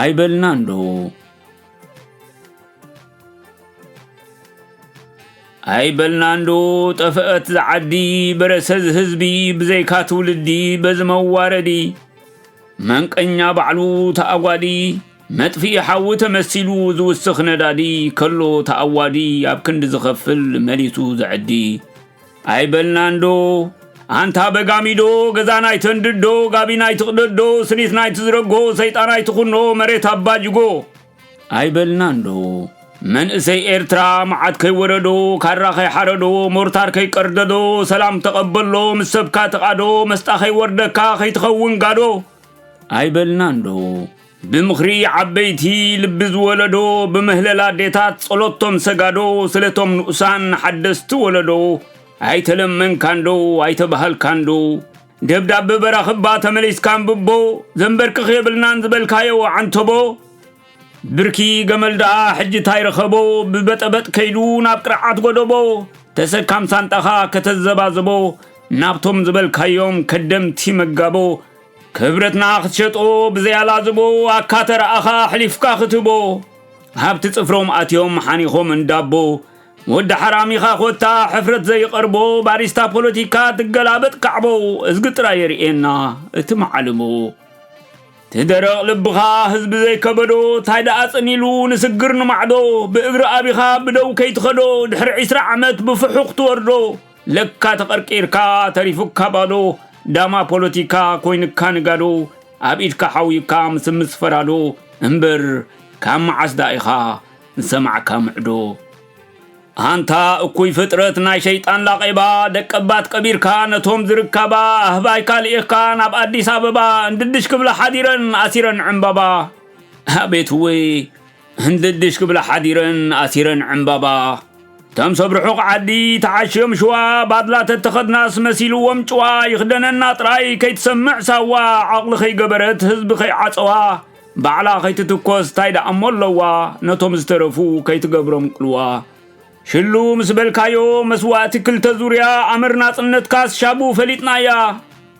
ኣይበልና እንዶ ኣይበልና እንዶ ጠፈአት ዝዓዲ በረሰዝ ህዝቢ ብዘይካ ትውልዲ በዚ መዋረዲ መንቀኛ ባዕሉ ተኣጓዲ መጥፍኢ ሓዊ ተመሲሉ ዝውስኽ ነዳዲ ከሎ ተኣዋዲ ኣብ ክንዲ ዝኸፍል መሊሱ ዘዕዲ ኣይበልናንዶ ኣንታ በጋሚዶ ገዛና ኣይተንድዶ ጋቢና ኣይትቕደዶ ስኒትና ኣይትዝረጎ ሰይጣን ኣይትኹኖ መሬት ኣባጅጎ ኣይበልናንዶ መንእሰይ ኤርትራ መዓት ከይወረዶ ካራ ከይሓረዶ ሞርታር ከይቀርደዶ ሰላም ተቐበሎ ምስ ሰብካ ተቓዶ መስጣ ከይወርደካ ከይትኸውን ጋዶ ኣይበልናንዶ ብምኽሪ ዓበይቲ ልቢ ዝወለዶ ብምህለላ ኣዴታት ጸሎት ቶም ሰጋዶ ስለቶም ንኡሳን ሓደስቲ ወለዶ ኣይተለመንካንዶ ኣይተባሃልካንዶ ደብዳበ በራኽባ ተመሊስካ ንብቦ ዘንበርክኽ የብልናን ዝበልካዮ ዓንተቦ ብርኪ ገመል ደኣ ሕጂ ታይ ረኸቦ ብበጠበጥ ከይዱ ናብ ቅርዓት ጎደቦ ተሰካም ሳንጣኻ ከተዘባዘቦ ናብቶም ዝበልካዮም ከደምቲ መጋቦ ክብረትና ክትሸጦ ብዘይ ኣላዝቦ ኣካተረኣኻ ኣሕሊፍካ ክትቦ ሃብቲ ጽፍሮም ኣትዮም ሓኒኾም እንዳቦ ወዲ ሓራሚኻ ኮታ ሕፍረት ዘይቐርቦ ባሪስታ ፖለቲካ ትገላበጥ ካዕቦ እዝጊ ጥራይ የርእየና እቲ መዓልቦ ትደረቕ ልብኻ ህዝቢ ዘይከበዶ ታይ ደኣ ጽኒሉ ንስግር ንማዕዶ ብእግሪ ኣቢኻ ብደው ከይትኸዶ ድሕሪ ዕስራ ዓመት ብፍሑኽ ትወርዶ ለካ ተቐርቂርካ ተሪፉካ ባዶ ዳማ ፖለቲካ ኮይንካ ንጋዶ ኣብ ኢድካ ሓውዩካ ምስምስ ፈራዶ እምበር ካብ መዓስ ደኣ ኢኻ ዝሰማዕካ ምዕዶ ኣንታ እኩይ ፍጥረት ናይ ሸይጣን ላቐባ ደቀባት ቀቢርካ ነቶም ዝርካባ ኣህባይካ ልኢኽካ ናብ ኣዲስ ኣበባ እንድድሽ ክብላ ሓዲረን ኣሲረን ዕምባባ ኣቤት ወይ ህንድድሽ ክብላ ሓዲረን ኣሲረን ዕምባባ እቶም ሰብ ርሑቕ ዓዲ ተዓሽዮም ሽዋ ባድላ ተተኸድናስ መሲልዎም ጭዋ ይኽደነና ጥራይ ከይትሰምዕ ሳዋ ዓቕሊ ከይገበረት ህዝቢ ከይዓፀዋ ባዕላ ከይትትኮስ እንታይ ደኣሞ ኣለዋ ነቶም ዝተረፉ ከይትገብሮም ቅልዋ ሽሉ ምስ በልካዮ መስዋእቲ ክልተ ዙርያ ኣምር ናጽነትካስ ሻቡ ፈሊጥናያ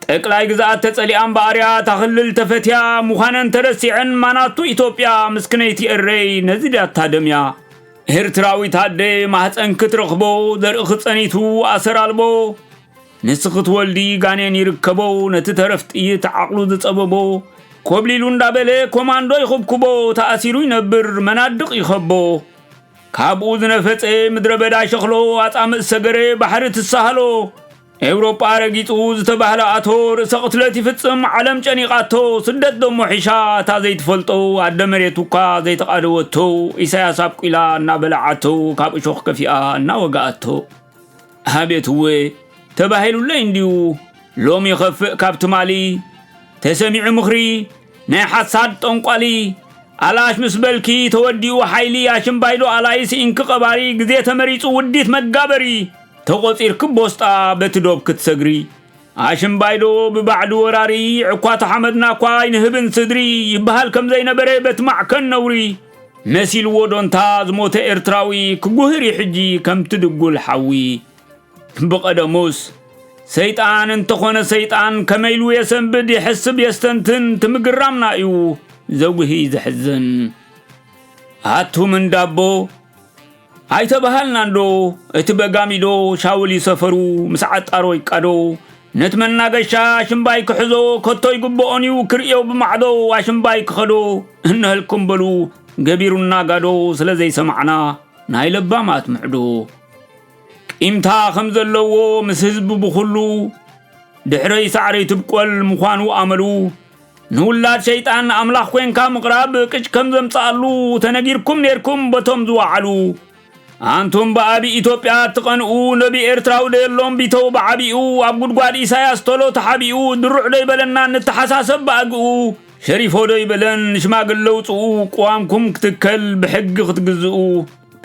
ጠቅላይ ግዝኣት ተጸሊኣ እምበኣርያ እታ ክልል ተፈትያ ምዃነን ተረሲዐን ማናቱ ኢትዮጵያ ምስክነይቲ ኤረይ ነዚ ድያ ታደምያ ኤርትራዊት ኣደ ማህፀን ክትረኽቦ ዘርእኺ ጸኒቱ ኣሰር ኣልቦ ንስ ክትወልዲ ጋኔን ይርከቦ ነቲ ተረፍ ጥይት ዓቕሉ ዝጸበቦ ኮብሊሉ እንዳበለ ኮማንዶ ይኹብኩቦ ተኣሲሩ ይነብር መናድቕ ይኸቦ ካብኡ ዝነፈጸ ምድረ በዳ ሸኽሎ ኣጻምእ ሰገረ ባሕሪ ትሳሃሎ ኤውሮጳ ረጊጹ ዝተባህለ ኣቶ ርእሰ ቅትለት ይፍጽም ዓለም ጨኒቓቶ ስደት ደሞ ሒሻ እታ ዘይትፈልጦ ኣደ መሬት እኳ ዘይተቓደወቶ ኢሳያስ ኣብቂላ እናበላዓቶ ካብ እሾኽ ከፊኣ እናወግኣቶ ኣቤት እወ ተባሂሉለይ እንድዩ ሎሚ ይኸፍእ ካብ ትማሊ ተሰሚዑ ምኽሪ ናይ ሓሳድ ጠንቋሊ ኣላሽ ምስ በልኪ ተወዲኡ ሓይሊ ኣሽምባይዶ ኣላይ ስኢንኪ ቀባሪ ግዜ ተመሪጹ ውዲት መጋበሪ ተቖጺርኪ ቦስጣ በቲ ዶብ ክትሰግሪ ኣሽምባይሎ ብባዕሉ ወራሪ ዕኳ ተሓመድና እኳ ኣይንህብን ስድሪ ይበሃል ከም ዘይነበረ በቲ ማዕከን ነውሪ መሲልዎ ዶንታ ዝሞተ ኤርትራዊ ክጉህር እዩ ሕጂ ከምቲ ድጉል ሓዊ ብቐደሙስ ሰይጣን እንተኾነ ሰይጣን ከመይ ኢሉ የሰንብድ የሕስብ የስተንትን ትምግራምና እዩ ዘጉሂ ዘሕዝን ኣቱም እንዳቦ ኣይተባሃልናንዶ እቲ በጋሚዶ ሻውል ይሰፈሩ ምስ ዓጣሮ ይቃዶ ነቲ መናገሻ ኣሽምባይ ክሕዞ ከቶ ይግብኦን እዩ ክርእዮ ብማዕዶ ኣሽምባይ ክኸዶ እንሀልኩም በሉ ገቢሩና ጋዶ ስለ ዘይሰማዕና ናይ ለባማት ምዕዶ ቂምታ ከም ዘለዎ ምስ ህዝቢ ብኹሉ ድሕረይ ሳዕረይ ትብቆል ምዃኑ ኣመሉ ንውላድ ሸይጣን ኣምላኽ ኮንካ ምቕራብ ቅጭ ከም ዘምጽኣሉ ተነጊርኩም ኔርኩም በቶም ዝወዓሉ ኣንቱም ብኣቢ ኢትዮጵያ እትቐንኡ ነቢ ኤርትራዊ ደየሎም ቢተው ብዓቢኡ ኣብ ጉድጓድ ኢሳያስ ቶሎ ተሓቢኡ ድሩዕ ዶ ይበለና ንተሓሳሰብ ብኣግኡ ሸሪፎ ዶ ይበለን ሽማግለ ውፅኡ ቅዋምኩም ክትከል ብሕጊ ክትግዝኡ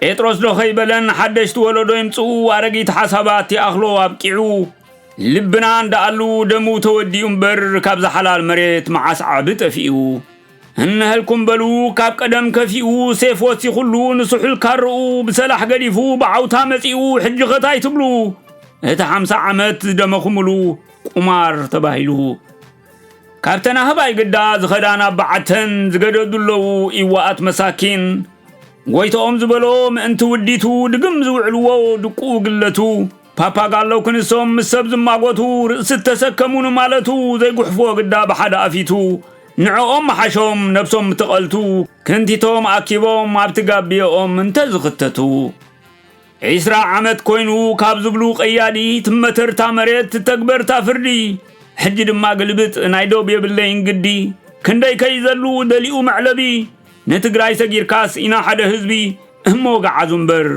ጴጥሮስ ዶ ከይበለን ሓደሽቲ ወለዶ ይምፅኡ ኣረጊት ሓሳባት ይኣኽሎ ኣብቂዑ ልብና እንዳኣሉ ደሙ ተወዲኡ እምበር ካብዛ ሓላል መሬት መዓስ ዓቢ ጠፊኡ እነሀልኩም በሉ ካብ ቀደም ከፊኡ ሴፍ ወሲኹሉ ንስሑል ካርኡ ብሰላሕ ገዲፉ ብዓውታ መጺኡ ሕጂ ኸታይ ትብሉ እቲ ሓምሳ ዓመት ዝደመኹምሉ ቁማር ተባሂሉ ካብተን ኣህባይ ግዳ ዝኸዳ ናብ በዓተን ዝገደዱ ኣለዉ ኢዋኣት መሳኪን ጎይታኦም ዝበሎ ምእንቲ ውዲቱ ድግም ዝውዕልዎ ድቁ ግለቱ ፓፓጋሎ ክንሶም ምስ ሰብ ዝማጎቱ ርእሲ እተሰከሙ ንማለቱ ዘይጉሕፎ ግዳ ብሓደ ኣፊቱ ንዕኦም መሓሾም ነብሶም ምተቐልቱ ክንቲቶም ኣኪቦም ኣብቲ ጋብዮኦም እንተ ዝኽተቱ ዒስራ ዓመት ኮይኑ ካብ ዝብሉ ቀያዲ ትመተርታ መሬት ትተግበርታ ፍርዲ ሕጂ ድማ ግልብጥ ናይ ዶብ የብለይን ግዲ ክንደይ ከይዘሉ ደሊኡ መዕለቢ ንትግራይ ሰጊርካስ ኢና ሓደ ህዝቢ እሞ ገዓዙ እምበር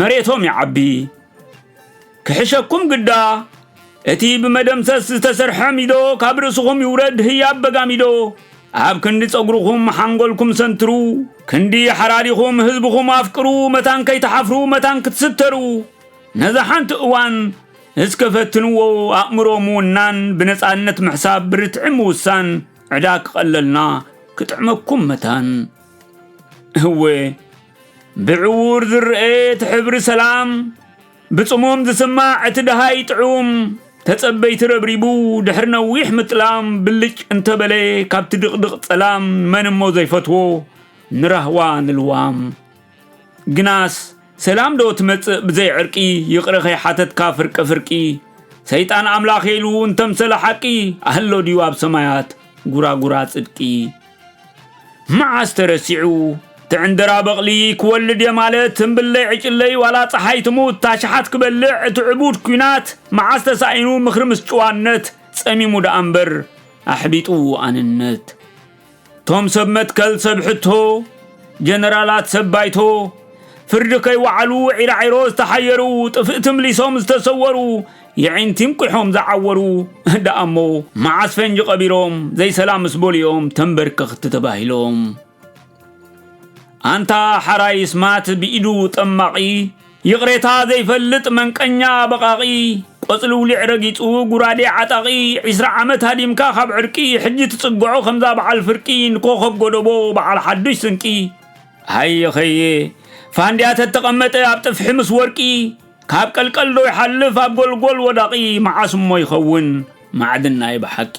መሬቶም ይዓቢ ክሕሸኩም ግዳ እቲ ብመደምሰስ ዝተሰርሐ ሚዶ ካብ ርእስኹም ይውረድ ህያብ በጋሚዶ ኣብ ክንዲ ጸጉርኹም ሓንጎልኩም ሰንትሩ ክንዲ ሓራሪኹም ህዝብኹም ኣፍቅሩ መታን ከይተሓፍሩ መታን ክትስተሩ ነዛ ሓንቲ እዋን እስከ ፈትንዎ ኣእምሮ ምውናን ብነፃነት ምሕሳብ ብርትዒ ምውሳን ዕዳ ክቐለልና ክጥዕመኩም መታን እወ ብዕዉር ዝረኤ እቲ ሕብሪ ሰላም ብጽሙም ዝስማዕ እቲ ደሃይ ጥዑም ተጸበይቲ ረብሪቡ ድሕሪ ነዊሕ ምጥላም ብልጭ እንተበለ ካብቲ ድቕድቕ ጸላም መን እሞ ዘይፈትዎ ንራህዋ ንልዋም ግናስ ሰላም ዶ ትመጽእ ብዘይ ዕርቂ ይቕረ ከይሓተትካ ፍርቂ ፍርቂ ሰይጣን ኣምላኽ ኢሉ እንተምሰለ ሓቂ ኣህሎ ድዩ ኣብ ሰማያት ጉራጉራ ጽድቂ መዓስ ተረሲዑ ትዕንደራ በቕሊ ክወልድ እየ ማለት ትንብለይ ዕጭለይ ዋላ ፀሓይ ትሙት ታሽሓት ክበልዕ እቲ ዕቡድ ኩናት መዓስ ተሳኢኑ ምኽሪ ምስ ጭዋነት ጸሚሙ ደኣ እምበር ኣሕቢጡ ኣንነት ቶም ሰብ መትከል ሰብ ሕቶ ጀነራላት ሰብ ባይቶ ፍርዲ ከይወዓሉ ዒራዒሮ ዝተሓየሩ ጥፍእቲ ምሊሶም ዝተሰወሩ የዒንቲም ቊሖም ዝዓወሩ ደኣሞ መዓስ ፈንጂ ቀቢሮም ዘይሰላም ምስ በሉ እዮም ተንበርከኽቲ ተባሂሎም። ኣንታ ሓራይ ስማት ብኢዱ ጠማቒ ይቕሬታ ዘይፈልጥ መንቀኛ በቓቒ ቆጽሊ ውሊዕ ረጊጹ ጉራዴ ዓጣቒ ዒስራ ዓመት ሃዲምካ ካብ ዕርቂ ሕጂ ትጽግዖ ከምዛ በዓል ፍርቂ ንኮኸብ ጎደቦ በዓል ሓዱሽ ስንቂ ሃየኸየ ፋንድያ ተተቐመጠ ኣብ ጥፍሒ ምስ ወርቂ ካብ ቀልቀል ዶ ይሓልፍ ኣብ ጎልጎል ወዳቂ መዓስ እሞ ይኸውን ማዕድን ናይ ብሓቂ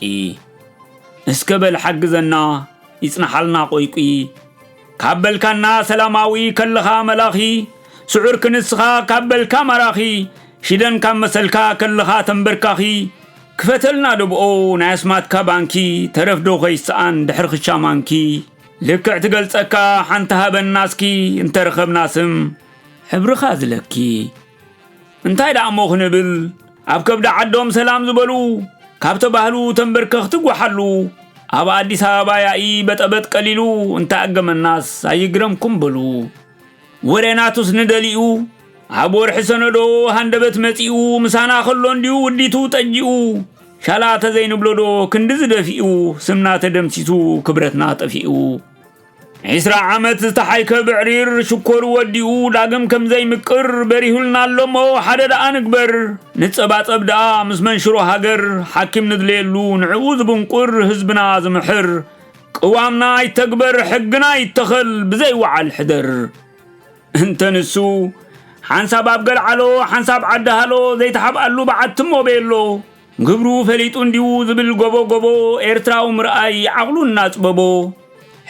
እስከ በል ሓግዘና ይጽናሓልና ቆይቂ ካብ በልካና ሰላማዊ ከለኻ መላኺ ስዑር ክንስኻ ካብ በልካ ማራኺ ሽደን ካብ መሰልካ ከለኻ ተንበርካኺ ክፈተልና ደብኦ ናይ ኣስማትካ ባንኪ ተረፍዶ ከይሰኣን ድሕሪ ክሻማንኪ ልክዕ ትገልጸካ ሓንቲ ሃበና እስኪ እንተረኸብና ስም ሕብርኻ ዝለኪ እንታይ ደኣሞ ክንብል ኣብ ከብዲ ዓዶም ሰላም ዝበሉ ካብ ተባህሉ ተንበርከኽቲ ጓሓሉ ኣብ ኣዲስ ኣበባ ያኢ በጠበጥ ቀሊሉ እንታይ ኣገመናስ ኣይግረምኩም በሉ ወሬናቱስ ንደሊኡ ኣብ ወርሒ ሰነዶ ሃንደበት መጺኡ ምሳና ከሎ እንዲዩ ውዲቱ ጠጂኡ ሻላ ተዘይንብሎዶ ክንዲ ዝደፊኡ ስምና ተደምሲሱ ክብረትና ጠፊኡ ዒስራ ዓመት ዝተሓይከ ብዕሪር ሽኮሩ ወዲኡ ዳግም ከም ዘይምቅር በሪሁልና ኣሎሞ ሓደ ደኣ ንግበር ንጸባጸብ ደኣ ምስ መንሽሮ ሃገር ሓኪም ንድለየሉ ንዕኡ ዝብንቁር ህዝብና ዝምሕር ቅዋምና ኣይተግበር ሕግና ይተኸል ብዘይ ወዓል ሕደር እንተ ንሱ ሓንሳብ ኣብ ገልዓሎ ሓንሳብ ዓዲ ሃሎ ዘይተሓብኣሉ በዓቲ እሞ ቤሎ ግብሩ ፈሊጡ እንዲዩ ዝብል ጎቦ ጎቦ ኤርትራዊ ምርኣይ ዓቕሉ እናጽበቦ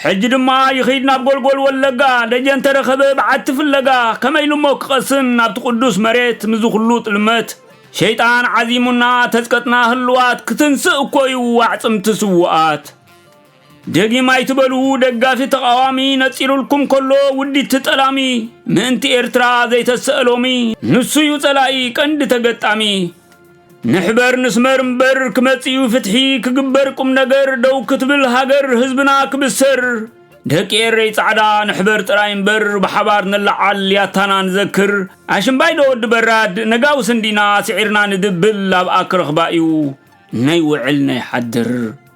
ሕጂ ድማ ይኺድ ናብ ጎልጎል ወለጋ ደጀን ተረኸበ በዓቲ ፍለጋ ከመይ ኢሉ እሞ ክቐስን ናብቲ ቅዱስ መሬት ምዚ ኩሉ ጥልመት ሸይጣን ዓዚሙና ተዝቀጥና ህልዋት ክትንስእ እኮዩ ኣዕጽምቲ ስውኣት ደጊም ኣይትበሉ ደጋፊ ተቓዋሚ ነጺሩልኩም ከሎ ውዲት ጠላሚ ምእንቲ ኤርትራ ዘይተሰእሎሚ ንሱ እዩ ጸላኢ ቀንዲ ተገጣሚ ንሕበር ንስመር እምበር ክመጽኡ ፍትሒ ክግበር ቁም ነገር ደው ክትብል ሃገር ህዝብና ክብሰር ደቂ ኤረይ ጻዕዳ ንሕበር ጥራይ እምበር ብሓባር ንለዓል ያታና ንዘክር ኣሽምባይ ዶ ወዲ በራድ ነጋዊ ስንዲና ስዒርና ንድብል ኣብኣ ክረኽባ እዩ ነይውዕል ነይሓድር